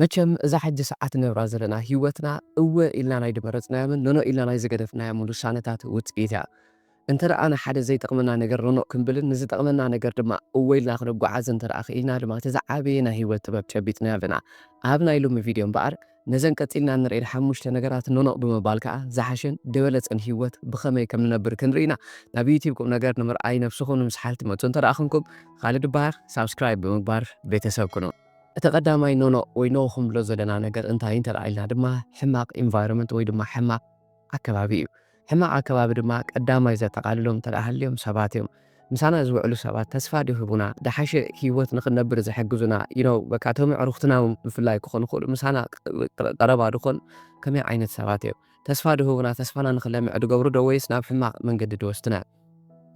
መቸም እዛ ሕጂ ሰዓት ንነብራ ዘለና ሂወትና እወ ኢልና ናይ ድመረጽናዮምን ኖኖ ኢልና ናይ ዝገደፍናዮምን ውሳነታት ውጽኢት እያ። እንተደኣ ንሓደ ዘይጠቕመና ነገር ኖኖ ክንብልን ንዝጠቕመና ነገር ድማ እወ ኢልና ክንጓዓዝን እንተደኣ ክኢልና ድማ እቲ ዝዓበየ ናይ ሂወት ጥበብ ጨቢጥናዮ ኣለና። ኣብ ናይ ሎሚ ቪድዮ እምበኣር ነዘን ቀጺልና እንርእየን ሓሙሽተ ነገራት ኖኖ ብምባል ከኣ ዝሓሸን ድበለጸን ሂወት ብኸመይ ከም ንነብር ክንርኢ ኢና። ናብ ዩትዩብ ቁምነገር ንምርኣይ ነብስኹም ንምስሓል ትመጹ እንተደኣ ኩንኩም ኻልድ እበሃል ሳብስክራይብ ብምግባር ቤተሰብ ኩኑ። እቲ ቀዳማይ ኖኖ ወይ ኖው ክንብሎ ዘለና ነገር እንታይ እንተድኣ ኢልና ድማ ሕማቕ ኢንቫይሮመንት ወይ ድማ ሕማቕ ኣከባቢ እዩ። ሕማቕ ኣከባቢ ድማ ቀዳማይ ዘጠቓልሎም እንተድኣ ሃልዮም ሰባት እዮም። ምሳና ዝውዕሉ ሰባት ተስፋ ድህቡና፣ ድሓሸ ህይወት ንኽንነብር ዝሕግዙና፣ you know፣ በቃ እቶም ኣዕሩኽትና እውን ብፍላይ ክኾኑ ይኽእሉ፣ ምሳና ቀረባ ዝኾኑ ከመይ ዓይነት ሰባት እዮም? ተስፋ ድህቡና፣ ተስፋና ንኽለምዕ ድገብሩ ዶ ወይስ ናብ ሕማቕ መንገዲ ድወስዱና?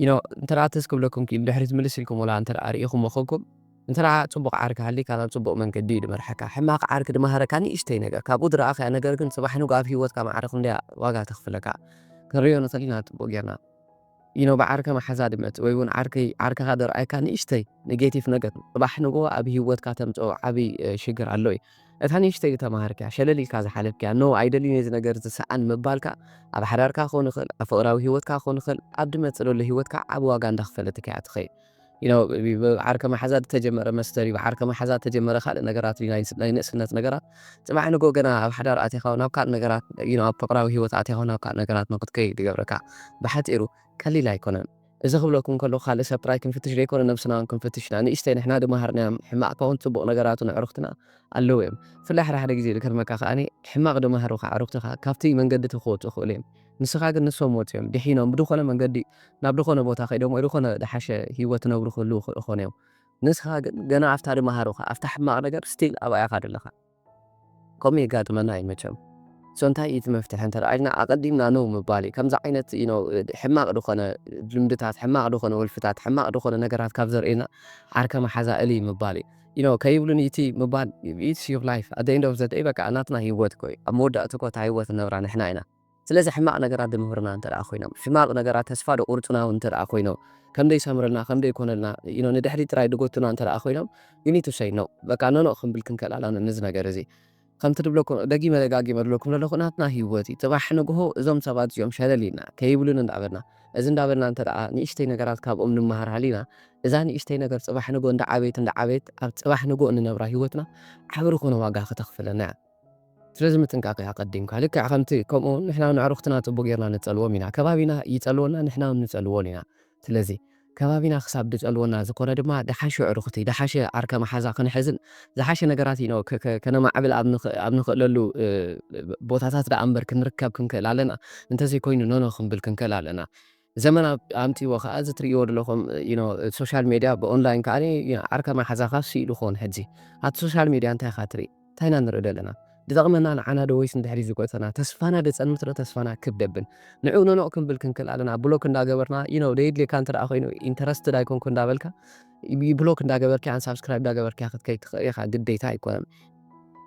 you know እንተደኣ ትዝ ክብለኩም ክኢሉ ድሕሪት ምልስ ኢልኩምላ እንተደኣ ርኢኹሞ ኮንኩም እንተደኣ ጽቡቕ ዓርኪ ሃሊካ ናብ ጽቡቕ መንገዲ እዩ ድመርሓካ ሕማቕ ዓርኪ ድመሃረካ ንእሽተይ ነገር ካብኡ ድረኣኻያ ነገር ግን ጽባሕ ንግሆ ኣብ ሂወትካ መዓረ ክንደያ ዋጋ ተኽፍለካ ክንርእዮ ንኽእል ኢና ጽቡቕ ጌርና you know ብዓርኪ መሓዛ ድመጽእ ወይ እውን ዓርኪ ዓርክኻ ድርኣየካ ንእሽተይ ኔጌቲቭ ነገር ጽባሕ ንግሆ ኣብ ሂወትካ ተምጽኦ ዓቢ ሽግር ኣሎ እዩ እታ ንእሽተይ ዝተማሃርካያ ሸለል ኢልካ ዝሓለፍካያ ኖእ ኣይደልይን እዚ ነገር እዚ ሰኣን ምባልካ ኣብ ሓዳርካ ክኾን ይኽእል ኣብ ፍቕራዊ ሂወትካ ክኾን ይኽእል ኣብ ድመጽእ ለሎ ሂወትካ ዓቢ ዋጋ እንዳኽፈለትካ እያ ትኸይድ you know ብዓርከ መሓዛ ዝተጀመረ መስተር እዩ ብዓርከ መሓዛ ዝተጀመረ ካልእ ነገራት እዩ ናይ ንእስነት ነገራት ፅባሕ ንጎ ገና ኣብ ሓዳር ኣትኻ ናብ ካልእ ነገራት እዩ ኣብ ፍቅራዊ ሂወት ኣትኻ ናብ ካልእ ነገራት ንክትከይድ ይገብረካ ብሓፂሩ ቀሊል ኣይኮነን እዚ ክብለኩም ከለኩ ካልእ ሰብ ጥራይ ክንፍትሽ ዘይኮነ ነብስና ውን ክንፍትሽ ኢና ንእሽተይ ንሕና ድማሃርናዮም ሕማቅ ኮን ጽቡቅ ነገራቱ ነዕሩክትና ኣለዉ እዮም ብፍላይ ሓደ ሓደ ግዜ ዝገርመካ ከኣ ሕማቅ ድማሃሩካ ኣዕሩክትካ ካብቲ መንገዲ እቲ ክወጹ ይክእሉ እዮም ንስካ ግን ንሶም ወጽዮም ዲሒኖም ብድኮነ መንገዲ ናብ ድኮነ ቦታ ከይዶም ወይ ድኮነ ድሓሸ ሂወት ክነብሩ ክህልዉ ይክእሉ ኮን እዮም ንስካ ግን ገና ኣብታ ድማሃሩካ ኣብታ ሕማቅ ነገር ስቲል ኣብኣ ኢካ ደለካ። ከምኡ የጋጥመና እዩ መቸም so እንታይ እዩ እቲ መፍትሒ እንተ ኢልና ኣቐዲምና no ምባል እዩ ከምዚ ዓይነት you know ሕማቕ ዝኾነ ልምድታት ሕማቕ ዝኾነ ወልፍታት ሕማቕ ዝኾነ ነገራት ካብ ዘርእየና ዓርከ መሓዛ እልይ ምባል እዩ you know ከይብሉኒ እቲ ምባል it's your life at the end of the day በቃ ናትና ሂወት እኮ እዩ ኣብ መወዳእትኡ እኮ እታ ሂወት ንነብራ ንሕና ኢና። ስለዚ ሕማቕ ነገራት ድምህሩና እንተ ደኣ ኮይኖም፣ ሕማቕ ነገራት ተስፋ ድቑርጹና ውን እንተ ደኣ ኮይኖም፣ ከም ደይሰምረልና፣ ከም ደይኮነልና፣ you know፣ ንድሕሪት ጥራይ ድጎቱና እንተ ደኣ ኮይኖም፣ you need to say no፣ በቃ ኖኖእ ክንብል ክንከል ኣላና ነዚ ነገር እዚ። ከምቲ ድብለኩም ደጊመ ደጋጊመ ድብለኩም ደለኹ ናትና ሂወት እዩ። ጽባሕ ንግሆ እዞም ሰባት እዚኦም ሸለል ኢልና፣ ከይብሉኒ እንዳ በልና፣ እዚ እንዳ በልና እንተ ደኣ ንእሽተይ ነገራት ካብኦም ንመሃር ሃሊና፣ እዛ ንእሽተይ ነገር ጽባሕ ንግሆ እንዳ ዓበየት እንዳ ዓበየት ኣብ ጽባሕ ንግሆ እንነብራ ሂወትና ዓቢ ድኾነ ዋጋ ከተኽፍለና እያ። ስለዚ ምጥንቃቕ እዩ ኣቐዲምካ። ልክዕ ከምቲ ከምኡ ንሕና ውን ኣዕሩኽትና ጽቡቕ ጌርና ንጸልዎም ኢና። ከባቢና ይጸልወና ንሕና ውን ንጸልዎን ኢና። ስለዚ ከባቢና ክሳብ ድጸልወና ዝኾነ ድማ ድሓሹ ኣዕሩኽቲ ድሓሸ ዓርከ መሓዛ ክንሕዝን ዝሓሸ ነገራት ኢኖ ከነማዕብል ኣብ ኣብ ንኽእለሉ ቦታታት ድኣ እምበር ክንርከብ ክንክእል ኣለና። እንተዘይኮይኑ ኖኖ ክንብል ክንክእል ኣለና። ዘመን ኣምጺዎ ከኣ እዚ ትርእይዎ ደለኹም you know ሶሻል ሜድያ ብኦንላይን ከኣ you know ዓርካ ማሓዛኻ ሲኢሉ ክኾን ሕጂ ኣብቲ ሶሻል ሜድያ እንታይ ኢኻ ትርኢ እንታይ ኢና ንርኢ ደለና ድጠቕመና ንዓና ዶ ወይስ ንድሕሪት ዝጎተና ተስፋና ደጸንምት ዶ ተስፋና ክብ ደብል ንዑ ኖኖእ ክንብል ክንክል ኣለና ብሎክ እንዳገበርና you know ደየድልየካ እንተ ኮይኑ ኢንተረስትድ ኣይኮንኩ እንዳበልካ ብሎክ እንዳገበርካያን ሳብስክራይብ እንዳገበርካያ ክትከይድ ትኽእል ኢኻ ግዴታ ኣይኮነን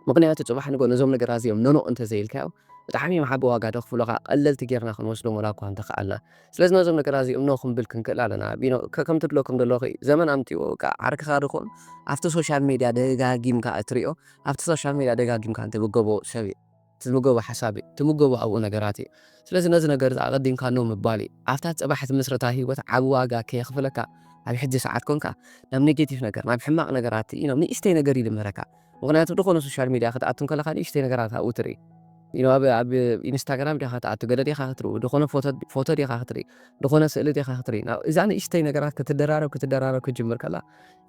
ምኽንያቱ ጽባሕ ንግሆ ነዞም ነገራት እዚኦም ኖኖእ እንተዘይኢልካዮም ብጣዕሚ እዮም ዓቢ ዋጋ ደኽፍሉኻ ቀለልቲ ጌርና ክንወስዶም ወላ እኳ እንተኸኣልና ስለዚ ነዞም ነገራት እዚኦም ኖእ ክንብል ክንክእል ኣለና ቢኖ ከም ትብሎ ከም ደሎኺ ዘመን ኣምጺእዎ በቃ ዓርክኻ ድኹም ኣብቲ ሶሻል ሜድያ ደጋጊምካ እትሪኦ ኣብቲ ሶሻል ሜድያ ደጋጊምካ እትብገቦ ሰብ እዩ ትምገቦ ሓሳብ እዩ። ትምገቦ ኣብኡ ነገራት እዩ። ስለዚ ነዚ ነገር እዚ ኣቐዲምካ ኖእ ምባል እዩ። ኣብታ ጽባሕ እትምስርታ ህይወት ዓቢ ዋጋ ከየኽፍለካ ኣብ ሕጂ ሰዓት ኰንካ ናብ ኔጌቲቭ ነገር፣ ናብ ሕማቕ ነገራት እዩ ናብ ንእሽተይ ነገር እዩ ዝምህረካ። ምኽንያቱ ድኾነ ሶሻል ሚድያ ክትኣቱ እንከለኻ ንእሽተይ ነገራት ኣብኡ ትርኢ። ኣብ ኣብ ኢንስታግራም ዲኻ ክትኣቱ ገለ ዲኻ ክትርኢ ድኾነ ፎቶ ፎቶ ዲኻ ክትርኢ ድኾነ ስእሊ ዲኻ ክትርኢ ናብ እዛ ንእሽተይ ነገራት ክትደራረብ ክትደራረብ ክትጅምር ከላ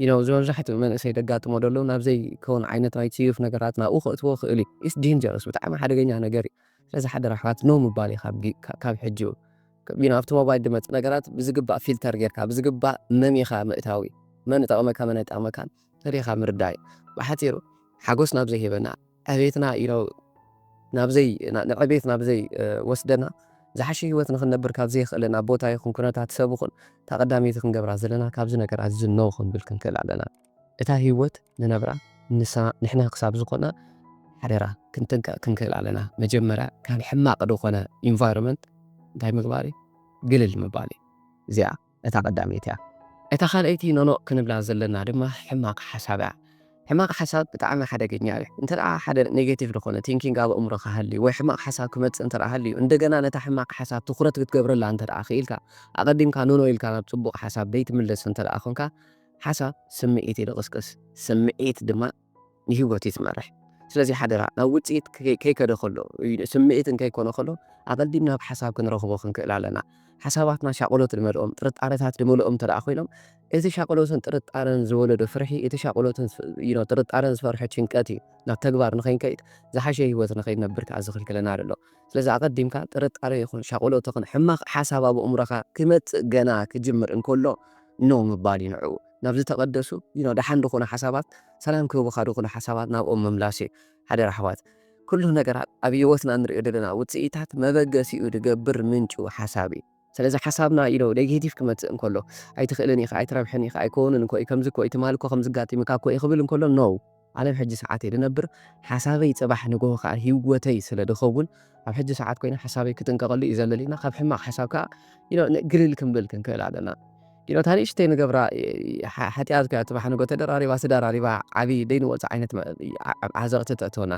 you know ዝመብዛሕትኡ መንእሰይ ደጋጥሞ ደሎ ናብ ዘይ ከውን ዓይነት ናይ ጽዩፍ ነገራት ናብኡ ከእትዎ ይክእል እዩ it's dangerous ብጣዕሚ ሓደገኛ ነገር እዩ ስለዚ ሓደራ ኣሕዋት no ምባል እዩ ካብ ጊ ካብ ሕጂኡ you know ኣብቲ ሞባይል ድመጽእ ነገራት ብዝግባእ ፊልተር ጌርካ ብዝግባእ መሚኻ ምእታው እዩ መን እጠቅመካ መን ኣይጠቅመካን ፈሊኻ ምርዳእ እዩ ብሓጺሩ ሓጎስ ናብ ዘይህበና ዕቤትና ኢሎ ናብ ዘይ ንዕቤት ናብ ዘይ ወስደና ዝሓሸ ሂወት ንክንነብር ካብ ዘየኽእለና ቦታ ይኹን ኩነታት ሰብ ይኹን እታ ቀዳመይቲ ክንገብራ ዘለና ካብዚ ነገር ኣዚ no ክንብል ክንክእል ኣለና እታ ሂወት ንነብራ ንሳ ንሕና ክሳብ ዝኾና ሓደራ ክንጥንቀቅ ክንክእል ኣለና መጀመርያ ካብ ሕማቅ ድኾነ ኢንቫይሮመንት እንታይ ምግባር እዩ ግልል ምባል እዩ እዚኣ እታ ቀዳመይቲ እያ። እታ ካልኣይቲ ኖኖእ ክንብላ ዘለና ድማ ሕማቅ ሓሳብ እያ። ሕማቅ ሓሳብ ብጣዕሚ ሓደገኛ እዩ። እንተ ሓደ ኔጌቲቭ ዝኾነ ቲንኪንግ ኣብ ኣእምሮኻ ሃልዩ ወይ ሕማቅ ሓሳብ ክመጽእ እንተ ሃልዩ እንደገና ነታ ሕማቅ ሓሳብ ትኹረት ክትገብረላ እንተ ክኢልካ ኣቀዲምካ ኖኖ ኢልካ ናብ ጽቡቅ ሓሳብ ዘይትምለስ እንተ ኮንካ ሓሳብ ስምዒት እዩ ድቅስቅስ። ስምዒት ድማ ንህይወቱ ትመርሕ። ስለዚ ሓደራ ናብ ውጽኢት ከይከደ ከሎ፣ ስምዒት እንከይኮነ ከሎ ኣቐዲምና ኣብ ሓሳብ ክንረኽቦ ክንክእል ኣለና። ሓሳባትና ሻቕሎት ዝመልኦም፣ ጥርጣረታት ዝመልኦም እንተድኣ ኮይኖም፣ እቲ ሻቕሎትን ጥርጣረን ዝወለዶ ፍርሒ፣ እቲ ሻቕሎትን ጥርጣረን ዝፈርሖ ጭንቀት እዩ ናብ ተግባር ንኸይንከይድ፣ ዝሓሸ ህይወት ንኸይንነብር ከኣ ዝኽልክለና ዘሎ። ስለዚ ኣቐዲምካ ጥርጣረ ይኹን ሻቕሎት ይኹን ሕማቕ ሓሳብ ኣብ ኣእምሮኻ ክመጽእ ገና ክጅምር እንከሎ ኖእ ምባል እዩ ንዕኡ። ናብ ዝተቀደሱ you know ደሓን ድኹኑ ሓሳባት ሰላም ክህቡኻ ድኹኑ ሓሳባት ናብኦም ምምላስ እዩ ሓደራ ኣሕዋት ኩሉ ነገራት ኣብ ሂወትና ንሪኦ ደለና ውጽኢታት መበገሲኡ ድገብር ምንጩ ሓሳብ እዩ ሰለዚ ሓሳብና you know ኔጌቲቭ ክመጽእ እንከሎ ኣይትኽእልን ኢኻ ኣይትረብሕን ኢኻ ኣይኮንን እኮ እዩ ከምዚ እኮ እዩ ትማል እኮ ከምዚ ኣጋጢሙካ እኮ እዩ ክብል እንከሎ no ኣነ ኣብ ሕጂ ሰዓት እየ ዝነብር፣ ሓሳበይ ጽባሕ ንግሆ ከኣ ሂወተይ ስለ ዝኸውን፣ ኣብ ሕጂ ሰዓት ኮይነ ሓሳበይ ክጥንቀቐሉ እዩ ዘለኒ እና ካብ ሕማቕ ሓሳብ ከኣ you know ን ግልል ክንብል ክንክእል ኣለና። you know እታ ንእሽተይ ንገብራ ሓጥያት ኮይና ጽባሕ ንግሆ ተደራሪባ ተደራሪባ ዓቢ ዘይንወጾ ዓይነት ዓዘቕቲ ተእትወና።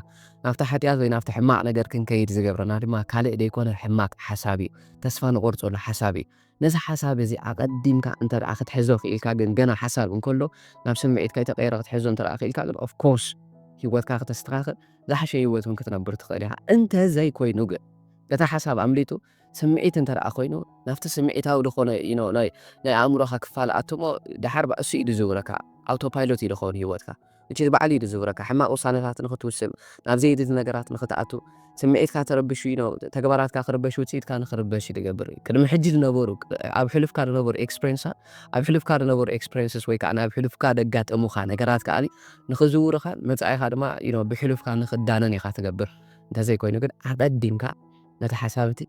ናብቲ ሓጥያት ወይ ናብቲ ሕማቕ ነገር ክንከይድ ዝገብረና ድማ ካልእ ዘይኮነ ሕማቕ ሓሳብ እዩ፣ ተስፋ ንቖርጸሉ ሓሳብ እዩ። ነዚ ሓሳብ እዚ ኣቐዲምካ እንተ ደኣ ክትሕዞ ክኢልካ ግን ገና ሓሳብ እንከሎ ናብ ስምዒት ከይተቐየረ ክትሕዞ እንተ ደኣ ክኢልካ ግን of course ህይወትካ ክተስተኻኽል ዝሓሸ ህይወት እውን ክትነብር ትኽእል ኢኻ። እንተ ዘይኮይኑ ግን እቲ ሓሳብ ኣምሊጡ ስምዒት እንተ ደኣ ኮይኑ ናብቲ ስምዒታዊ ዝኾነ you know ናይ ናይ ኣእምሮኻ ክፋል ኣትሞ ደሓር ባእሱ እዩ ዝዝውረካ። Autopilot እዩ ዝኸውን ህይወትካ። እቲ ባዕሉ እዩ ዝዝውረካ። ሕማቕ ውሳነታት ንኽትውስን፣ ናብ ዘየድሊ ነገራት ንኽትኣቱ፣ ስምዒትካ ተረቢሹ ኢዩ፣ ተግባራትካ ክርበሽ፣ ውጽኢትካ ንኽርበሽ እዩ ዝገብር። ቅድሚ ሕጂ ዝነበሩ፣ ኣብ ሕሉፍካ ዝነበሩ ኤክስፕሬንሳት፣ ኣብ ሕሉፍካ ዝነበሩ ኤክስፕሬንስስ ወይ ከኣ ናብ ሕሉፍካ ዘጋጠሙኻ ነገራት ከኣ ንኽዝውሩኻን መጻኢኻ ድማ you know ብሕሉፍካ ንኽዳነን ኢኻ ትገብር። እንተዘይኮይኑ ግን ኣቐዲምካ ነቲ ሓሳብ እቲ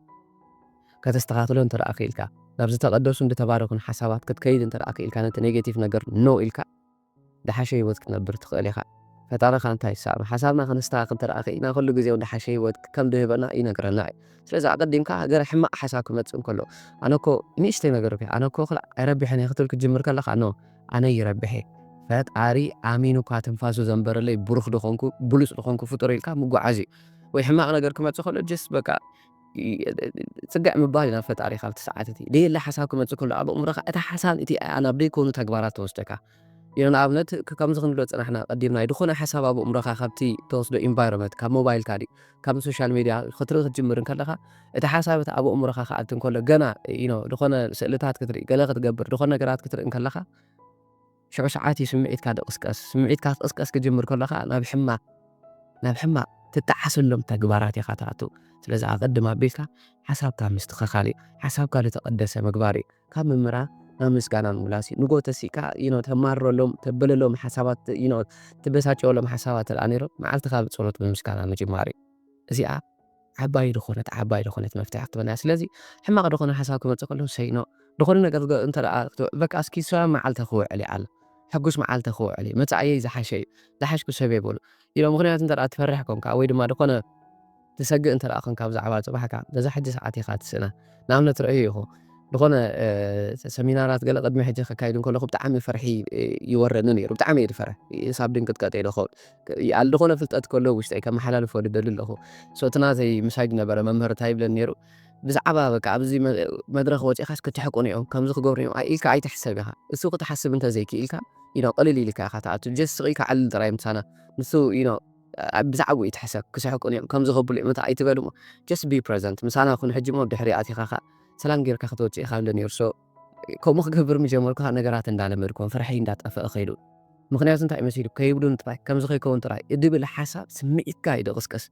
ከተስተኻኽሎ እንተደኣ ክኢልካ፣ ናብ ዝተቐደሱን ዝተባረኹን ሓሳባት ክትከይድ እንተደኣ ክኢልካ፣ ነቲ ኔጌቲቭ ነገር no ኢልካ፣ ዝሓሸ ህይወት ክትነብር ትኽእል ኢኻ። ፈጣሪ ከኣ እንታይ ይሰኣኖ? ሓሳብና ከነስተኻኽል እንተደኣ ክኢልና ኹሉ ግዜ እውን ዝሓሸ ህይወት ከም ዝህበና ይነግረና እዩ። ስለዚ ኣቐዲምካ ገለ ሕማቕ ሓሳብ ክመጽእ እንከሎ፣ ኣነ እኮ ንእሽተይ ነገር እኳ፣ ኣነ እኮ ኹላዕ ኣይረብሕን እየ ክትብል ክትጅምር ከለኻ፣ ኖእ! ኣነ ይረብሕ እየ። ፈጣሪ ኣሚኑ እኳ ትንፋሱ ዘንበረለይ ብሩኽ ዝኾንኩ፣ ብሉጽ ዝኾንኩ ፍጡር ኢልካ ምጉዓዝ እዩ። ወይ ሕማቕ ነገር ክመጽእ ከሎ ጀስት በቃ። ጽግዕ ምባል እዩ ናብ ፈጣሪኻ ኣብቲ ሰዓት እቲ። ደየለ ሓሳብ ክመጽእ ከሎ ኣብ ኣእምሮኻ እቲ ሓሳብ እቲ ኣያ ናብ ደይኮኑ ተግባራት ተወስደካ እዩ። ንኣብነት ከምዚ ክንብሎ ዝጸናሕና ቀዲምና እዩ ድኾነ ሓሳብ ኣብ ኣእምሮኻ ካብቲ ተወስዶ ኢንቫይሮመት ካብ ሞባይልካ ድዩ ካብ ንሶሻል ሜድያ ክትርኢ ክትጅምር እንከለኻ እቲ ሓሳብ እቲ ኣብ ኣእምሮኻ ክኣቲ እንከሎ ገና ድኾነ ስእልታት ክትርኢ ገለ ክትገብር ድኾነ ነገራት ክትርኢ እንከለኻ ሽዑ ሰዓት እዩ ስምዒትካ ድቕስቀስ። ስምዒትካ ክቕስቀስ ክጅምር ከሎ ከኣ ናብ ሕማቕ ናብ ሕማቕ ትጠዓሰሎም ተግባራት ኢኻ ትኣቱ። ስለዚ ኣቐድም ኣቢልካ ሓሳብካ ምስትኸኻል እዩ። ሓሳብካ ልተቐደሰ ምግባር እዩ። ካብ ምምራር ናብ ምስጋና ምምላስ እዩ። ንጎ ተሲእካ you know ተማርረሎም፣ ተበለሎም ሓሳባት you know ትበሳጨወሎም ሓሳባት ተደኣ ነይሮም መዓልትኻ ብጸሎት ብምስጋና ምጅማር እዩ። እዚኣ ዓባይ ድኾነት ዓባይ ድኾነት መፍትሒ ክትበና ስለዚ ሕማቅ ድኾነ ሓሳብ ክመጽእ ከሎ ሰይ ኖ ድኾነ ነገር እንተ በቃ እስኪ ሰላም መዓልተ ክውዕል እዩ ዓል ሕጉስ መዓልተ ክውዕል እዩ መጻእየይ ዝሓሸ እዩ ዝሓሽኩ ሰብ እየ በሉ ኢሎ ምክንያቱ እንተ ትፈርሕ ኮንካ ወይ ድማ ድኾነ ትሰግእ እንተ ኮንካ ብዛዕባ ጽባሕካ ነዛ ሕጂ ሰዓት ኢኻ ትስእና ንኣብነት ረእዩ ይኹ ዝኾነ ሰሚናራት ገለ ቅድሚ ሕጂ ከካይድ ከለኹ ብጣዕሚ ፍርሒ ይወረኒ ነይሩ ብጣዕሚ እየ ዝፈርሕ ሳብ ድንቅጥቀጥ እየ ዝኸውን ይኣል ድኾነ ፍልጠት ከሎ ኣብ ውሽጠይ ከመሓላልፎ ድደሊ ኣለኹ። So እቲ ናተይ ምሳጅ ነበረ መምህር እንታይ ይብለኒ ነይሩ ብዛዕባ በቃ ኣብዚ መድረኽ ወጺእካስ ክትሕቁን እዮም ከምዚ ክገብሩ እዮም ኣይ ኢልካ ኣይትሕሰብ ኢኻ እሱ ክትሓስብ እንተ ዘይክኢልካ you know ቅልል ኢልካ ኢኻ ትኣቱ just ስቕ ኢልካ ዕልል ጥራይ ምሳና ንሱ you know ብዛዕባኡ ኣይትሕሰብ ክስሕቁን እዮም ከምዚ ከብሉ እዮም እንታይ ኣይትበል እሞ just be present ምሳና ኩን ሕጂ እሞ ኣብ ድሕሪ ኣቲኻ ከኣ ሰላም ጌርካ ክትወጽእ ኢኻ ይብለኒ ነይሩ so ከምኡ ክገብር ምጀመርኩ ከኣ ነገራት እንዳለመድክዎም ፍርሐይ እንዳጠፈኣ ከይዱ ምኽንያቱ እንታይ መሲሉ ከይብሉኒ ጥራይ ከምዚ ከይከውን ጥራይ እድብል ሓሳብ ስምዒትካ እዩ ድቕስቅስ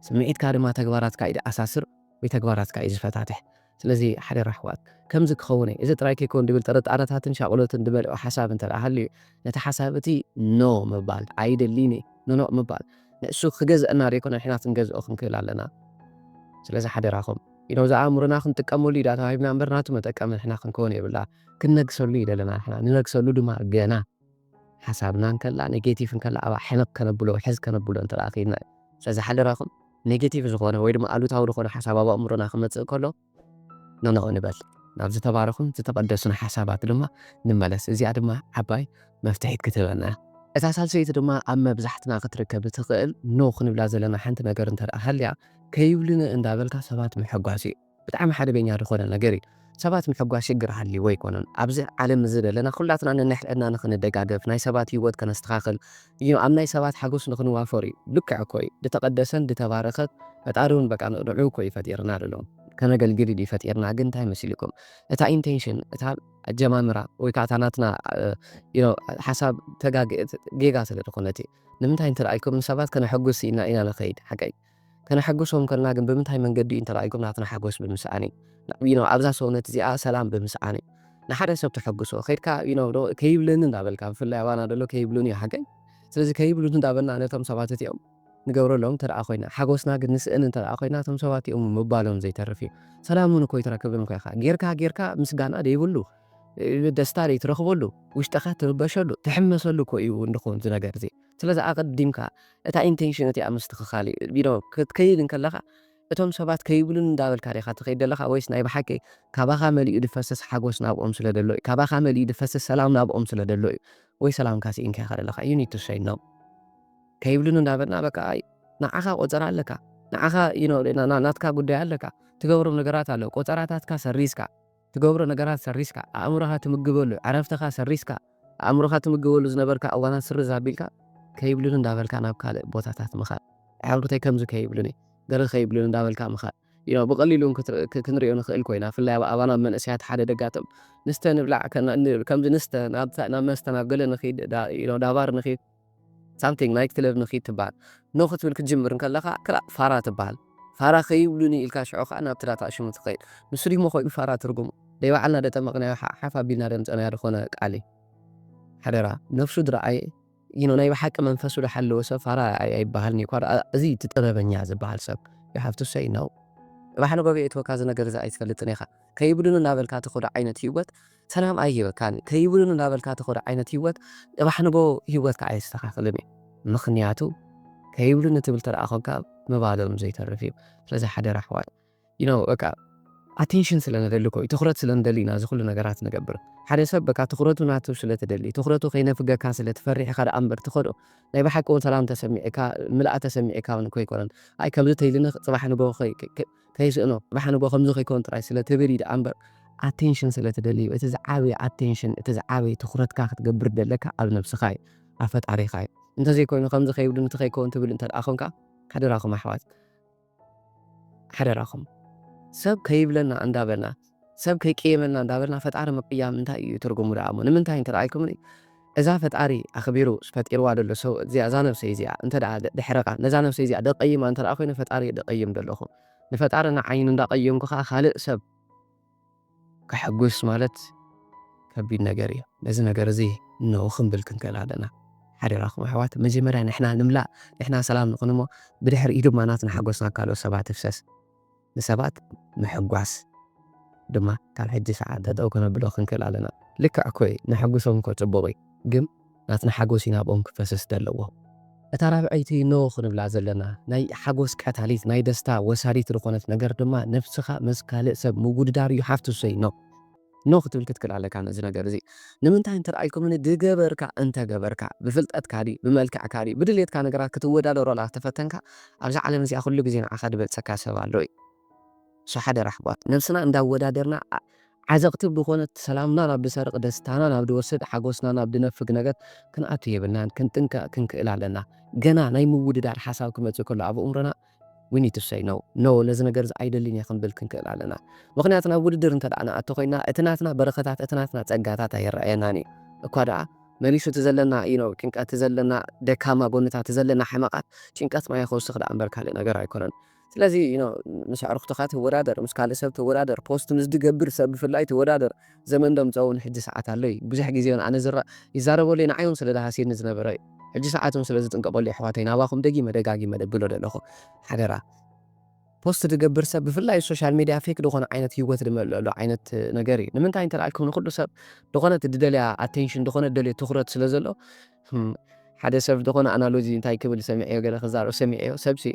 ስምዒትካ ድማ ተግባራትካ እዩ ድኣሳስር ወይ ተግባራትካ እዩ ዝፈታትሕ ስለዚ ሓደራ ኣሕዋት ከምዚ ክኸውን እየ እዚ ጥራይ ከይከውን ድብል ጥርጣረታትን ሻቕሎትን ድመልኦ ሓሳብ እንተደኣ ሃልዩ ነቲ ሓሳብ እቲ No ምባል፣ ኣይደልይን እየ፣ ኖኖእ ምባል፣ ንእሱ ክገዝኣና ዘይኮነ ንሕና ክንገዝኦ ክንክእል ኣለና። ስለዚ ሓደራኹም ኢኖ ዝኣእምሮና ክንጥቀመሉ እዩዳ ተዋሂብና እምበር ናቱ መጠቀሚ ንሕና ክንከውን የብላ። ክንነግሰሉ እዩ ደለና ንሕና ንነግሰሉ ድማ ገና ሓሳብና እንከላ ኔጌቲቭ እንከላ ኣብኣ ሕንቕ ከነብሎ ውሕዝ ከነብሎ እንተ ክኢልና እዩ። ስለዚ ሓደራኹም ኔጌቲቭ ዝኾነ ወይ ድማ ኣሉታዊ ዝኾነ ሓሳብ ኣብ ኣእምሮና ክመጽእ ከሎ ኖኖእ ንበል ናብ ዝተባረኹን ዝተቐደሱን ሓሳባት ድማ ንመለስ እዚኣ ድማ ዓባይ መፍትሒት ክትህበና እያ። እታ ሳልሰይቲ ድማ ኣብ መብዛሕትና ክትርከብ እትኽእል ኖእ ክንብላ ዘለና ሓንቲ ነገር እንተደኣ ሃልያ ከይብሉኒ እንዳበልካ ሰባት ምሕጓስ እዩ። ብጣዕሚ ሓደገኛ ዝኾነ ነገር እዩ። ሰባት ምሕጓስ ሽግር ሃልይዎ ኣይኮነን ኣብዚ ዓለም እዚ ዘለና ኩላትና ነንሕድሕድና ንኽንደጋገፍ ናይ ሰባት ሂወት ከነስተኻኽል እዩ ኣብ ናይ ሰባት ሓጎስ ንክንዋፈር እዩ ልክዕ እኮ እዩ ድተቀደሰን ድተባረከት ፈጣሪ ውን በቃ ንዑዑ እኮ እዩ ፈጢርና ድሎ ከነገልግል ድዩ ፈጢርና ግን እንታይ መሲልኩም እታ ኢንቴንሽን እታ ኣጀማምራ ወይ ከኣ እታ ናትና you know ሓሳብ ተጋግ ጌጋ ስለ ድኮነት እዩ ንምንታይ እንተ ኢልኩም ንሰባት ከነሐጉስ ኢልና ኢና ንከይድ ሓቀይ ከነሐጉሶም ከልና ግን ብምንታይ መንገዲ እዩ እንተላኢኩም ናትና ሐጎስ ብምስኣን እዩ ናብ ዩ ኖው ኣብዛ ሰውነት እዚኣ ሰላም ብምስኣን እዩ ንሓደ ሰብ ተሐጉሶ ከድካ ዩ ኖው ዶ ከይብለኒ እንዳበልካ ብፍላይ ኣባና ደሎ ከይብሉኒ እዩ ሓቀይ ስለዚ ከይብሉኒ እንዳበልና ነቶም ሰባት እቲኦም ንገብረሎም እንተ ኮይና ሓጎስና ግን ንስእን እንተ ኮይና እቶም ሰባት እቲኦም ምባሎም ዘይተርፍ እዩ ሰላም እውን እኮ ይትረክብን እኮ ኢኻ ጌርካ ጌርካ ምስጋና ደይብሉ ደስታ ደይትረኽበሉ ውሽጥኻ ትርበሸሉ ትሕመሰሉ እኮ እዩ እንድኹን ዝነገር እዚ ስለዚ ኣቐዲምካ እታ ኢንቴንሽን እቲኣ ምስትኽኻል እዩ። ዩ ኖው ክትከይድ እንከለኻ እቶም ሰባት ከይብሉኒ እንዳበልካ ዲኻ ትኸይድ ደለኻ ወይስ ናይ ብሓቂ ካባኻ መሊኡ ድፈስስ ሓጎስ ናብኦም ስለ ደሎ እዩ ካባኻ መሊኡ ድፈስስ ሰላም ናብኦም ስለ ደሎ እዩ ወይ ሰላምካ ስኢንካ ኢኻ ደለኻ ዩ ኒድ ቱ ሰይ ኖው ከይብሉኒ እንዳበልና በቃ ኣይ ንዓኻ ቆጸራ ኣለካ ንዓኻ ዩ ኖው ናትካ ጉዳይ ኣለካ ትገብሮም ነገራት ኣሎ ቆጸራታትካ ሰሪዝካ ትገብሮ ነገራት ሰሪዝካ፣ ኣእምሮኻ ትምግበሉ፣ ዕረፍትኻ ሰሪዝካ፣ ኣእምሮኻ ትምግበሉ ዝነበርካ እዋናት ስርዝ ኣቢልካ፣ ከይብሉኒ እንዳበልካ ናብ ካልእ ቦታታት ምኻድ፣ ኣዕሩኽተይ ከምዚ ከይብሉኒ፣ ገለ ከይብሉኒ እንዳበልካ ምኻድ፣ you ብቐሊሉ ውን ክንሪኦ ንኽእል ኮይና፣ ብፍላይ ኣብ ኣባና መንእሰያት ሓደ ደጋጥም፣ ንስተ ንብላዕ ከምዚ ንስተ ናብ መስተ ናብ ገለ ንኺድ you know ዳባር ንኺድ፣ ሳምቲንግ ናይት ክለብ ንኪድ ትበሃል ን ክትብል ክትጅምር እንከለኻ ክላእ ፋራ ትበሃል ፋራ ከይብሉኒ ኢልካ ሽዑ ከኣ ናብቲ ዳታ ኣሽሙ ትኸይድ ንሱ ድዩሞ ኮይኑ ፋራ ትርጉሙ ደይ ባዕልና ደጠመቅናዮ ሓፍ ሓፍ ኣቢልና ደምጸናዮ ድኾነ ቃል እዩ ሓደራ ነብሱ ድረኣየ you know ናይ ብሓቂ መንፈሱ ድሓለወ ሰብ ፋራ ኣይበሃልንዩ እኳ ደኣ እዚ እዩ እቲ ጥበበኛ ዝበሃል ሰብ you have to say no ባሕሪ ጎብየ እትወካ እዚ ነገር እዚ ኣይትፈልጥን ኢኻ ከይብሉኒ እናበልካ ትኸዶ ዓይነት ሂወት ሰላም ኣይህበካን ከይብሉን እንዳበልካ ትኸዶ ዓይነት ሂወት ጽባሕ ንግሆ ሂወትካ ኣይስተኻኽልን እዩ ምኽንያቱ ከይብሉኒ ትብል ተደኣ ኮንካ ምባሎም ዘይተርፍ እዩ ስለዚ ሓደራ ኣሕዋት you know በቃ ኣቴንሽን ስለ ንደሊ እኮ እዩ ትኹረት ስለ ንደሊ ኢና እዚ ኩሉ ነገራት ንገብር ሓደ ሰብ በቃ ትኹረቱ ናቱ ስለ ትደሊ ትኹረቱ ከይነፍገካ ስለ ትፈርሕ ኢኻ ደኣ እምበር ትኸዶ ናይ ብሓቂ እውን ሰላም ተሰሚዕካ ምልኣ ተሰሚዕካ እውን እኮ ኣይኮነን ኣይ ከምዚ ተይልኒ ጽባሕ ንግሆ ከይስእኖ ጽባሕ ንግሆ ከምዚ ከይከውን ጥራይ ስለ ትብል እዩ ደኣ እምበር ኣቴንሽን ስለ ትደሊ እዩ። እቲ ዝዓበየ ኣቴንሽን እቲ ዝዓበየ ትኹረትካ ክትገብር ዘለካ ኣብ ነብስኻ እዩ ኣብ ፈጣሪኻ እዩ። እንተዘይኮይኑ ከምዚ ከይብልን እቲ ከይከውን ትብል እንተደኣ ኮንካ ሓደራኹም ኣሕዋት ሓደራኹም ሰብ ከይብለና እንዳበልና ሰብ ከይቅየመና እንዳበልና ፈጣሪ ምቅያም እንታይ እዩ ትርጉሙ ደኣ እሞ ንምንታይ እንተረኣይኩምኒ እዛ ፈጣሪ ኣኽቢሩ ፈጢርዋ ደሎ ሰብእት እዚኣ እዛ ነብሰይ እዚኣ እንተ ደሕረቃ ነዛ ነብሰይ እዚኣ ደቀይማ እንተ ኮይኑ ፈጣሪ እየ ደቀይም ደለኹ ንፈጣሪ ንዓይኑ እንዳቀየምኩ ከኣ ካልእ ሰብ ከሐጉስ ማለት ከቢድ ነገር እዩ ነዚ ነገር እዚ እነሆ ክንብል ክንክእል ኣለና ሓደራኹም ኣሕዋት መጀመርያ ንሕና ንምላእ ንሕና ሰላም ንኹን እሞ ብድሕሪኡ ድማ ናትና ሓጎስና ካልኦት ሰባት ትፍሰስ ንሰባት ምሕጓስ ድማ ካብ ሕጂ ሰዓት ጠጠው ከነብሎ ክንክእል ኣለና። ልክዕ እኮ እዩ ነሐጉሶም እኮ ጽቡቅ እዩ ግን ናትና ሓጎስ እዩ ናብኦም ክፈስስ ደለዎ። እታ ራብዐይቲ ኖ ክንብላ ዘለና ናይ ሓጎስ ቀታሊት ናይ ደስታ ወሳዲት ልኾነት ነገር ድማ ነብስኻ ምስ ካልእ ሰብ ምውድዳር እዩ ሓፍትሰይ ኖ። ኖእ ክትብል ክትክል ኣለካ ነዚ ነገር እዚ ንምንታይ እንተ ኢልኩምኒ ድገበርካ እንተ ገበርካ ብፍልጠትካ ድዩ ብመልክዕካ ድዩ ብድልየትካ ነገራት ክትወዳደሮ እንተ ተፈተንካ ኣብዛ ዓለም እዚኣ ኩሉ ግዜ ንዓኻ ድበልጸካ ሰብ ኣሎ እዩ so ሓደራ ኣሕዋት ነብስና እንዳ ኣወዳደርና ዓዘቕቲ ብኾነት ሰላምና ናብ ድሰርቕ ደስታና ናብ ድወስድ ሓጎስና ናብ ድነፍግ ነገር ክንኣቱ የብልናን ክንጥንቀቕ ክንክእል ኣለና ገና ናይ ምውድዳር ሓሳብ ክመጽእ ከሎ ኣብ ኣእምሮና we need to say no no ነዚ ነገር እዚ ኣይደልን እየ ክንብል ክንክእል ኣለና ምኽንያቱ ናብ ውድድር እንተ ደኣ ንኣቱ ኮይና እቲ ናትና በረኸታት እቲ ናትና ጸጋታት ኣይረኣየናን እዩ እኳ ደኣ መሊሱ እቲ ዘለና you know ጭንቀት እቲ ዘለና ደካማ ጎንታት እቲ ዘለና ሕመቓት ጭንቀት ማይ ክውስኽ ደኣ እምበር ካልእ ነገር ኣይኮነን ስለዚ you know ምስ ኣዕሩኽትኻ ትወዳደር ምስ ካልእ ሰብ ትወዳደር ፖስት ምስ ዝገብር ሰብ ብፍላይ ትወዳደር ዘመን ደምጸውን ሕጂ ሰዓት ኣሎ እዩ ብዙሕ ግዜ ውን ኣነ ዝረእ ይዛረበሉ እየ ንዓይ ውን ስለ ዝሃስየኒ ዝነበረ እዩ ሕጂ ሰዓት ውን ስለ ዝጥንቀቀሉ የሕዋተይ ናባኩም ደጊመ ደጋጊመ ደብሎ ደለኩ ሓደራ ፖስት ድገብር ሰብ ብፍላይ ሶሻል ሜድያ ፌክ ድኮነ ዓይነት ሂወት ድመልእሉ ዓይነት ነገር እዩ ንምንታይ እንተ ኣልኩም ንኩሉ ሰብ ድኮነት ድደልያ ኣቴንሽን ድኮነ ድደልዮ ትኩረት ስለ ዘሎ ሓደ ሰብ ድኮነ ኣናሎጂ እንታይ ክብል ሰሚዐዮ ገለ ክዛረብ ሰሚዐዮ ሰብ ሲ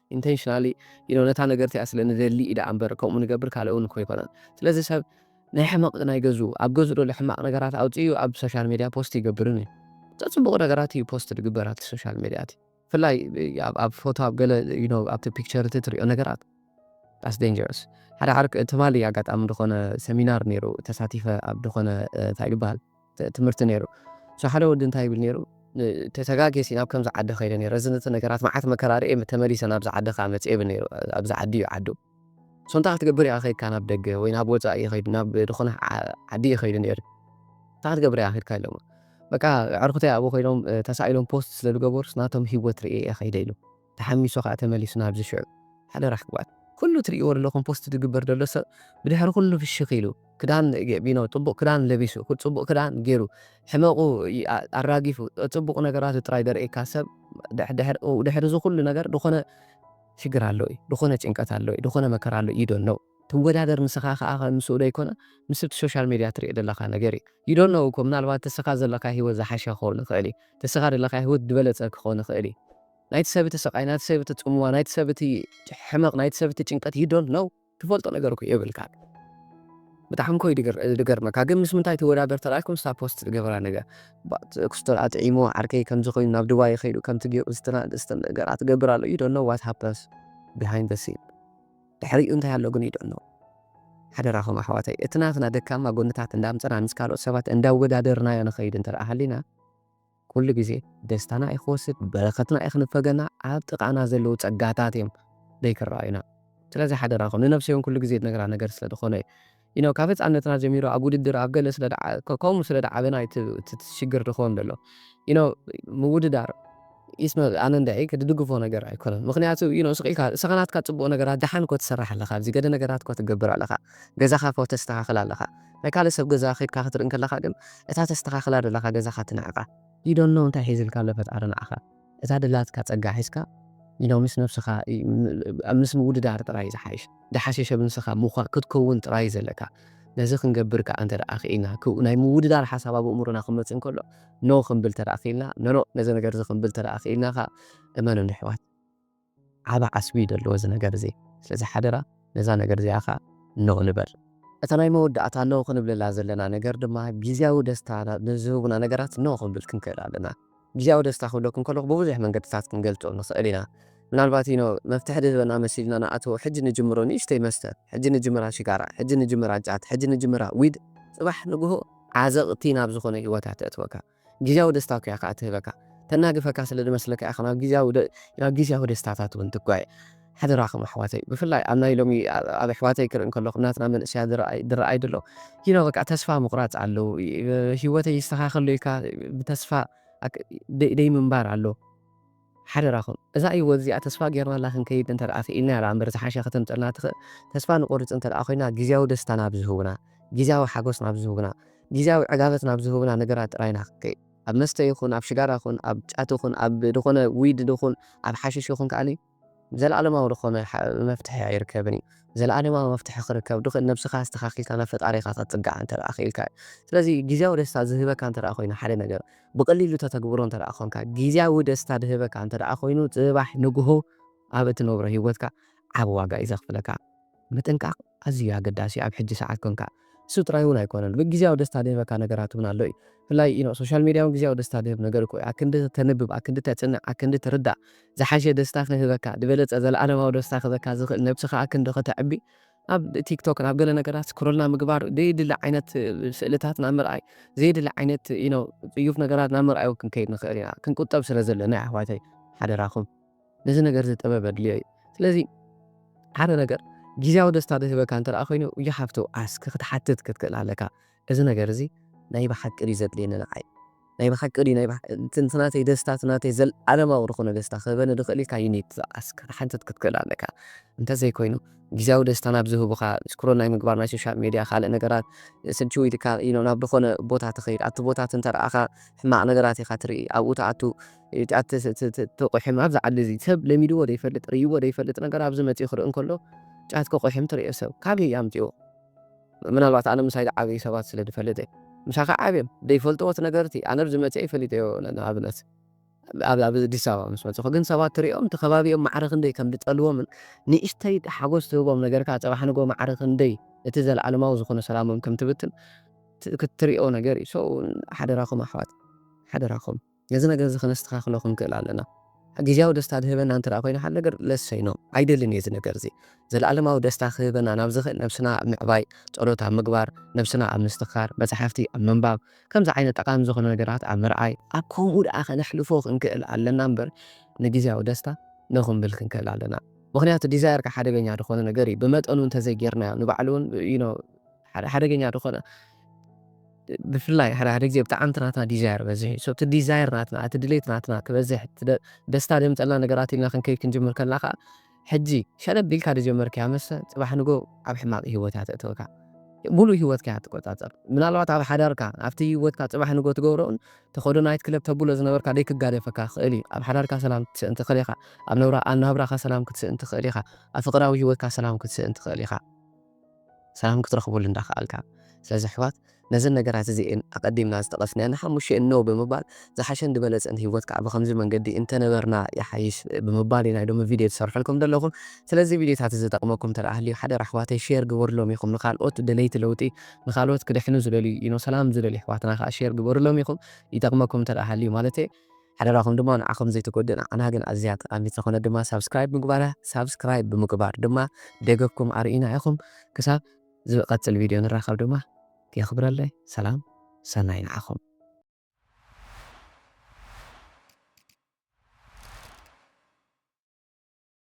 ኢንተንሽናሊ you know ነታ ነገር እቲኣ ስለ ንደሊ እዩ ደኣ እምበር ከምኡ ንገብር ካልእ እውን እኮ ኣይኮነን ስለዚ ሰብ ናይ ሕመቕ ናይ ገዝኡ ኣብ ገዝኡ ዘሎ ሕማቕ ነገራት ኣውፂኡ ኣብ ሶሻል ሜድያ ፖስት ይገብርን እዩ ዘፅቡቑ ነገራት እዩ ፖስት ዝግበር ኣብቲ ሶሻል ሜድያ እቲ ብፍላይ ኣብ ፎቶ ኣብ ገለ you know ኣብቲ ፒክቸር እቲ ትሪኦ ነገራት ዳስ ዴንጀረስ ሓደ ዓርክ ትማሊ ኣጋጣሚ ዝኾነ ሰሚናር ነይሩ ተሳቲፈ ኣብ ዝኾነ እንታይ ዝበሃል ትምህርቲ ነይሩ so ሓደ ወዲ እንታይ ይብል ነይሩ ተጋግየሲ ናብ ከምዚ ዓዲ ከይደ ነይረ እዚ ነቲ ነገራት መዓት መከራ ርእየ ተመሊሰ ናብዚ ዓዲ ከኣ መጽየ ይብል ነይሩ ኣብዚ ዓዲ እዩ ዓዱ so እንታይ ክትገብር ኢኻ ከይድካ ናብ ደገ ወይ ናብ ወጻኢ ይኸይድ ናብ ዝኾነ ዓዲ ይኸይዱ ነይሩ እንታይ ክትገብር ኢኻ ከይድካ ኢሎሞ በቃ ኣዕርኹተይ ኣብኡ ኮይኖም ተሳኢሎም ፖስት ስለ ዝገበሩስ ናቶም ሂወት ርእየ እየ ከይደ ኢሉ ተሓሚሱ ከኣ ተመሊሱ ናብዚ ሽዑ። ሓደራ ኣሕዋት ኩሉ ትርእይዎ ደለኹም ፖስት ዝግበር ደሎ ሰብ ብድሕሪ ኩሉ ፍሽኽ ኢሉ ክዳን ቢኖ ጽቡቕ ክዳን ለቢሱ ጽቡቕ ክዳን ጌሩ ሕመቑ ኣራጊፉ ጽቡቕ ነገራቱ ጥራይ ዘርእየካ ሰብ ድሕሪ እዚ ኩሉ ነገር ድኾነ ሽግር ኣሎ እዩ ድኾነ ጭንቀት ኣሎ እዩ ድኾነ መከራ ኣሎ እዩ ዩ ዶንኖ። ትወዳደር ንስኻ ከኣ ምስኡ ዘይኮነ ምስ እቲ ሶሻል ሜድያ ትሪኦ ዘለኻ ነገር እዩ you don't know እኮ ምናልባት እስኻ ዘለካዮ ሂወት ዝሓሸ ክኸውን ይኽእል እዩ እቲ እስኻ ዘለካዮ ሂወት ድበለጸ ክኸውን ይኽእል እዩ ናይቲ ሰብ እቲ ስቃይ ናይቲ ሰብ እቲ ጽምዋ ናይቲ ሰብ እቲ ሕመቅ ናይቲ ሰብ እቲ ጭንቀት you don't know ትፈልጦ ነገር እኮ የብልካን ብጣዕሚ እኮ እዩ ዝገርመካ ግን ምስ ምንታይ ትወዳደር ተላልኩም ስታ ፖስት ዝገበራ ነገር ኩስትራ ጥዒሙ ዓርከይ ከምዚ ኮይኑ ናብ ዱባይ ከይዱ ከምቲ ገይሩ ዝተናደስተ ነገራት ትገብር ኣሎ you don't know what happens behind the scene ድሕሪኡ እንታይ ኣሎ ግን ይድዕኖ። ሓደራኹም ኣሕዋተይ እቲ ናትና ደካማ ጎንታት እንዳምጸና ምስ ካልኦት ሰባት እንዳወዳደርናዮ ንኸይድ እንተደኣ ሃሊና ኩሉ ግዜ ደስታና እዩ ክወስድ በረከትና እዩ ክንፈገና ኣብ ጥቃና ዘለዉ ጸጋታት እዮም ዘይክረኣዩና ስለዚ ሓደራኹም ንነብሰይ ውን ኩሉ ግዜ ድነግራ ነገር ስለ ድኾነ እዩ ዩኖው ካብ ህጻነትና ጀሚሩ ኣብ ውድድር ኣብ ገለ ስለ ከምኡ ስለ ድዓበና ዩ እቲ ሽግር ድኾን ደሎ ዩኖው ምውድዳር ኢስመ ኣነ እንድዒ ድድግፎ ነገር ኣይኮነን ምኽንያቱ ዩኖው ስቅ ኢልካ ንስኻ ናትካ ጽቡቅ ነገራት ድሓን እኮ ትሰርሕ ኣለኻ ኣብዚ ገለ ነገራት እኮ ትገብር ኣለኻ ገዛኻ እኮ ተስተኻኽል ኣለኻ ናይ ካልእ ሰብ ገዛ ከድካ ክትርኢ ከለኻ ግን እታ ተስተኻኽላ ደለኻ ገዛኻ ትንዕቃ ዩ ዶንት ኖው እንታይ ሒዝልካ ኣሎ ፈጣሪ ንዓኻ። እታ ደላትካ ጸጋ ሒዝካ ኢሎ ምስ ነብስኻ ምስ ምውድዳር ጥራይ ዝሓይሽ ድሓሸሸ ብንስኻ ምዃ ክትከውን ጥራይ ዘለካ ነዚ ክንገብር ከኣ እንተ ደኣ ክኢልና ክው ናይ ምውድዳር ሓሳብ ኣብ ኣእምሮና ክመጽእ እንከሎ no ክንብል ተደኣ ክኢልና no no ነዚ ነገርዚ ክንብል ተደኣ ክኢልና ከኣ እመኑኒ ኣሕዋት ዓቢ ዓስቢ እዩ ደለዎ እዚ ነገር እዚ ስለዚ ሓደራ ነዛ ነገር እዚኣ ከኣ ኖእ ንበል። እታ ናይ መወዳእታ ኖእ ክንብለላ ዘለና ነገር ድማ ግዝያዊ ደስታ ንዝህቡና ነገራት ኖእ ክንብል ክንክእል ኣለና። ግዝያዊ ደስታ ክብለኩም ከለኹ ብብዙሕ መንገድታት ክንገልጾ ንኽእል ኢና። ምናልባት እዩ ኖእ መፍትሒ ድህበና መሲልና ንኣትዎ ሕጂ ንጅምሮ ንእሽተይ መስተ፣ ሕጂ ንጅምራ ሽጋራ፣ ሕጂ ንጅምራ ጫት፣ ሕጂ ንጅምራ ዊድ ጽባሕ ንግሆ ዓዘቕቲ ናብ ዝኾነ ህይወታ ተእትወካ። ግዝያዊ ደስታኩ እያ ከኣ ትህበካ። ተናግፈካ ስለ ድመስለካ እያ ናብ ግዝያዊ ናብ ግዝያዊ ደስታታት ውን ትጓየ። ሓደራኹም ኣሕዋተይ ብፍላይ ኣብ ናይ ሎሚ ኣብ ኣሕዋተይ ክርኢ ከለኹ ናትና መንእሰያት ዝረኣይ ድረኣይ ድሎ you know በቃ ተስፋ ምቑራጽ ኣሎ ሂወተይ ይስተኻኸል ዶ ኢልካ ብተስፋ ደይ ደይ ምንባር ኣሎ። ሓደራኹም እዛ ሂወት እዚኣ ተስፋ ጌርናላ ክንከይድ እንተድኣ ክኢልናያ ድኣ እምበር ዝሓሸ ከተምጸልና ትኽእል ተስፋ ንቆርጽ እንተድኣ ኮይና ግዝያዊ ደስታ ናብ ዝህቡና ግዝያዊ ሓጎስ ናብ ዝህቡና ግዝያዊ ዕጋበት ናብ ዝህቡና ነገራት ጥራይ ኢና ክንከይድ ኣብ መስተ ይኹን ኣብ ሽጋራ ይኹን ኣብ ጫት ይኹን ኣብ ድኾነ ዊድ ድኹን ኣብ ሓሽሽ ይኹን ከኣ ዘልኣለማዊ ድኾነ መፍትሒ ኣይርከብን እዩ። ዘልኣለማዊ መፍትሒ ክርከብ ድኽ ነብስኻ ኣስተኻኺልካ ናብ ፈጣሪኻ ክትጽጋዕ እንተ ክኢልካ እዩ። ስለዚ ግዝያዊ ደስታ ዝህበካ እንተ ኮይኑ ሓደ ነገር ብቀሊሉ ተተግብሮ እንተ ኮንካ ግዝያዊ ደስታ ድህበካ እንተ ኮይኑ ጽባሕ ንግሆ ኣብ እትነብሮ ሂወትካ ዓቢ ዋጋ እዩ ዘኽፍለካ። ምጥንቃቕ ኣዝዩ ኣገዳሲ እዩ ኣብ ሕጂ ሰዓት ኮንካ። እሱ ጥራይ እውን ኣይኮነን ብ ግዝያዊ ደስታ ድህበካ ነገራት እውን ኣሎ እዩ ብፍላይ you know ሶሻል ሚድያ እውን ግዝያዊ ደስታ ድህብ ነገር እኮ እዩ ኣክንዲ ተንብብ ኣክንዲ ተጽንዕ ኣክንዲ ትርዳእ ዝሓሸ ደስታ ክህበካ ድበለጸ ዘለኣለማዊ ደስታ ክህበካ ዝኽእል ነብስኻ ኣክንዲ ከተዕቢ ኣብ ቲክቶክ ናብ ገለ ነገራት ስክሮል ናብ ምግባር ደይድሊ ዓይነት ስእልታት ናብ ምርኣይ ዘይድሊ ዓይነት you know ጽዩፍ ነገራት ናብ ምርኣይ እውን ክንከይድ ንኽእል ኢና ክንቁጠብ ስለ ዘለና እዩ ኣሕዋተይ ሓደራኹም ነዚ ነገርዚ ጥበብ ኣድልዮ እዩ ስለዚ ሓደ ነገር ግዝያዊ ደስታ ዝህበካ እንተ ኮይኑ you have to ask ክትሓትት ክትክእል ኣለካ እዚ ነገር እዚ ናይ ብሓቂ ድዩ ዘድልየኒ ንዓይ ናይ ብሓቂ ድዩ ናይ እቲ ናተይ ደስታ እቲ ናተይ ዘልኣለማዊ ዝኮነ ደስታ ክህበኒ ዝክእል ኢልካ you need to ask ክትሓትት ክትክእል ኣለካ እንተ ዘይኮይኑ ግዝያዊ ደስታ ናብ ዝህቡካ ስክሮል ናይ ምግባር ናይ ሶሻል ሜድያ ካልእ ነገራት ስልችው ኢልካ ናብ ዝኮነ ቦታ ትከይድ ኣብቲ ቦታ እቲ እንተ ረኣካ ሕማቅ ነገራት ኢካ ትርኢ ኣብኡ ትኣቱ እቲ ትቑሕም ኣብዚ ዓዲ እዚ ሰብ ለሚድዎ ዘይፈልጥ ርእይዎ ዘይፈልጥ ነገር ኣብዚ መጺኡ ክርኢ እንከሎ ጫት ክቑሕም ትርእዮ ሰብ ካበይ ኣምጺእዎ ምናልባት ኣነ ምሳይ ዝዓበዩ ሰባት ስለ ዝፈልጥ እየ ምሳኻ ዓብዮም ዘይፈልጥዎ እቲ ነገር እቲ ኣነ ኣብዚ መጺኤ ፈሊጠዮ ንኣብነት ኣብ ኣብ ኣዲስ ኣበባ ምስ መጽኹ ግን ሰባት ትርእዮም እቲ ከባቢኦም ማዕረ ክንደይ ከም ዝጠልዎምን ንእሽተይ ሓጎስ ትህቦም ነገር ከኣ ጽባሕ ንግሆ ማዕረ ክንደይ እቲ ዘለኣለማዊ ዝኾነ ሰላሞም ከም ትብትን ክትርእዮ ነገር እዩ so ሓደራኹም ኣሕዋት ሓደራኹም ነዚ ነገር እዚ ከነስተኻኽሎ ክንክእል ኣለና። ግዝያዊ ደስታ ዝህበና እንተ ደኣ ኰይኑ ሓደ ነገር ለሰይ ኖ ኣይደልን እየ እዚ ነገር እዚ። ዘለኣለማዊ ደስታ ክህበና ናብ ዝኽእል ነብስና ኣብ ምዕባይ፣ ጸሎት ኣብ ምግባር፣ ነብስና ኣብ ምስትኽኻር፣ መጻሕፍቲ ኣብ ምንባብ፣ ከምዚ ዓይነት ጠቓሚ ዝዀነ ነገራት ኣብ ምርኣይ፣ ኣብ ከምኡ ደኣ ከነሕልፎ ክንክእል ኣለና እምበር ንግዝያዊ ደስታ ኖ ክንብል ክንክእል ኣለና። ምኽንያቱ ዲዛየርካ ሓደገኛ ዝዀነ ነገር እዩ። ብመጠኑ እንተ ዘይጌርናዮ ንባዕሉ ውን you know። ሓደ ሓደገኛ ዝኾነ ብፍላይ ሓደ ሓደ ግዜ ብጣዕሚ እቲ ናትና ዲዛየር በዝሕ እዩ እቲ ዲዛየር ናትና እቲ ድሌት ናትና ክበዝሕ ደስታ ዘምፀልና ነገራት ኢልና ክንከይድ ክንጅምር ከለና ከዓ ሕጂ ሸለብ ኢልካ ዝጀመርካያ መስተ ፅባሕ ንጎ ኣብ ሕማቅ ሂወት እያ ተእትወካ ሙሉእ ሂወትካ እያ ትቆፃፀር ምናልባት ኣብ ሓዳርካ ኣብቲ ሂወትካ ፅባሕ ንጎ ትገብሮን ተኸዶ ናይት ክለብ ተብሎ ዝነበርካ ዘይክጋደፈካ ክኽእል እዩ ኣብ ሓዳርካ ሰላም ክትስእን ትኽእል ኢኻ ኣብ ናብራኻ ሰላም ክትስእን ትኽእል ኢኻ ኣብ ፍቅራዊ ሂወትካ ሰላም ክትስእን ትኽእል ኢኻ ሰላም ክትረኽበሉ እንዳኸኣልካ። ስለዚ ኣሕዋት ነዘን ነገራት እዚኤን ኣቐዲምና ዝጠቐስናየን ንሓሙሽተ እየን ነው ብምባል ዝሓሸን ዝበለጸን ሂወት ካኣ ብኸምዚ መንገዲ እንተነበርና ይሓይሽ ብምባል ናይ ሎሚ ቪድዮ ዝሰርሐልኩም ዘለኹ። ስለዚ እዚ ቪድዮታት እዚ ዝጠቕመኩም እንተ ሃልዩ ሓደራ ኣሕዋተይ ሼር ግበሩሎም ኢኹም ንኻልኦት ደለይቲ ለውጢ ንኻልኦት ክድሕኑ ዝደልዩ ዩኖ ሰላም ዝደልዩ ኣሕዋትና ካኣ ሼር ግበሩሎም ኢኹም ይጠቕመኩም እንተ ሃልዩ ማለተይ። ሓደራኹም ድማ ንዓኹም ዘይትጎድእ ንዓና ግን ኣዝያ ጠቃሚት ዝኾነት ድማ ሳብስክራይብ ምግባራ ሳብስክራይብ ብምግባር ድማ ደገፍኩም ኣርእዩና ኢኹም ክሳብ ዝቐጽል ቪድዮ ንራኸብ ድማ የኽብረለይ ሰላም ሰናይ ንዓኹም።